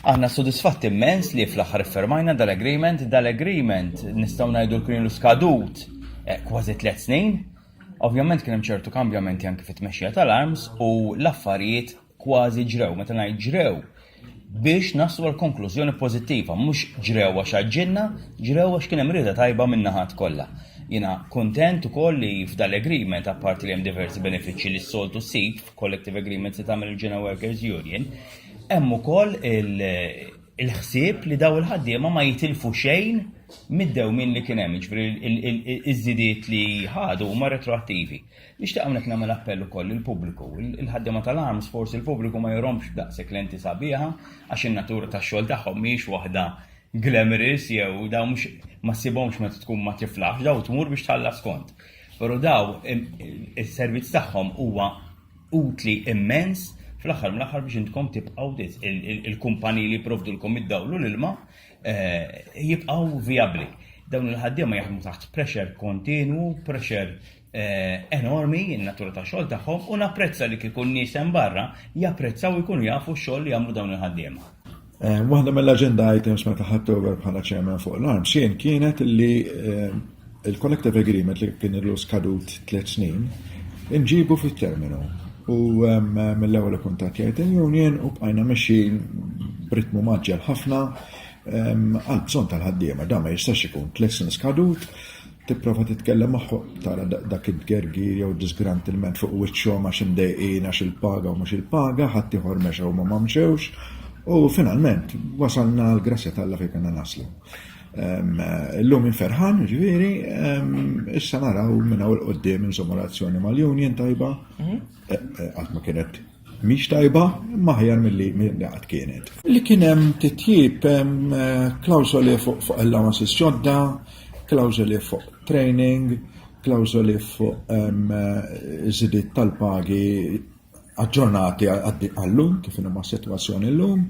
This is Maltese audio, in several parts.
Aħna sodisfatti immens li fl-aħħar iffermajna dal-agreement, dal-agreement nistgħu ngħidu li kien ilu skadut eh, kważi tliet snin. Ovvjament kien hemm ċertu kambjamenti anke fit-tmexxija tal-arms u l-affarijiet kważi ġrew, meta ngħid ġrew, biex naslu għal konklużjoni pożittiva, mhux ġrew għax għaġġilna, ġrew għax kien hemm rieda tajba min-naħat kollha. Jiena kuntent ukoll li f'dal-agreement apparti li hemm diversi benefiċċji li s-soltu ssib f'collective agreements li tagħmel il-General Workers Union, Hemm ukoll il-ħsieb li dawn il-ħaddiema ma jitilfu xejn mid-dewmien li kien hemm, jiġifieri iż-żidiet li ħadu huma retroattivi. Nixtieq hawnhekk nagħmel appell ukoll lill-pubbliku, il-ħaddiema tal-arms forsi l-pubbliku ma jurhomx daqshekk lenti sabiħa għax in-natura tax-xogħol tagħhom mhijiex waħda glamorous jew dawn mhux ma ssibhomx meta tkun ma tiflaħx, dawn tmur biex tħallas kont. Però dawn is-servizz tagħhom huwa utli immens fl-aħħar mill-aħħar biex intkom tibqgħu il-kumpaniji li jipprovdulkom id-dawl u l-ilma eh, jibqgħu vijabbli. Dawn il-ħaddiema jaħdmu taħt pressure kontinwu, pressure eh, enormi in-natura ta' xogħol tagħhom u napprezza li kikun nies hemm barra japprezzaw ikunu jafu x-xogħol li jagħmlu dawn il-ħaddiema. Waħda mill-agenda items meta ħadd over bħala chairman fuq l-arm xejn kienet li eh, il-collective agreement li kien illu skadut tliet snin inġibu fit-terminu. U eh, mill-ewwel kuntattjajt il-union u bqajna mexjin b'ritmu maġġel ħafna eh, għal bżonn tal-ħaddiema da ma jistax ikun tliet snin skadut Tipprova titkellem magħhom, tara dak it-tgergir jew id-diżgrant ilment fuq wiċċhom għax imdejqin għax il-paga u mhux il-paga, ħaddieħor mexa huma ma mxewx, u finalment wasalna għall-grazzja t'Alla fejn kellna naslu. Illum minn ferħan, ġifieri, issa naraw minn hawn il-qudiem insomma relazzjoni mal-union tajba, mhm. eh, eh, qatt ma kienet Mhix tajba, imma aħjar milli qatt kienet. Li kien hemm titjib hemm eh, klawżoli fuq allowances ġodda, klawżoli fuq training, klawżoli fuq eh, żidiet tal-pagi aġġornati għallum kif inhom situazzjoni llum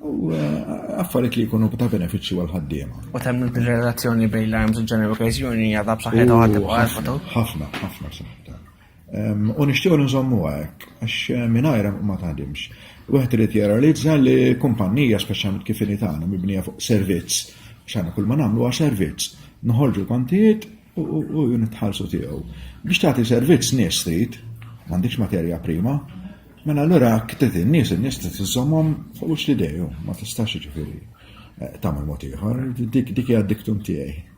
u eh, affarijiet li jkunu ta' benefiċċju għal ħaddiema. U temm il-relazzjoni bejn l-arms u ġeneru okkażjoni għadha b'saħħitha ħafna, ħafna saħħitha. U nixtiequ nżommuha hekk, għax mingħajrha ma taħdimx. Wieħed irid jirrealizza li kumpannija speċjalment kif inhi tagħna mibnija fuq servizz, x'għandna kull ma nagħmlu għal servizz. Noħorġu l-kontijiet u nitħallsu tiegħu. Biex tagħti servizz nies trid, m'għandix materja prima, mela allura ktet in-nies, in-nies trid iżommhom fuq wiċċ li dejju, ma tistax jiġifieri eh, tagħmel mod ieħor, dik hija diktum tiegħi.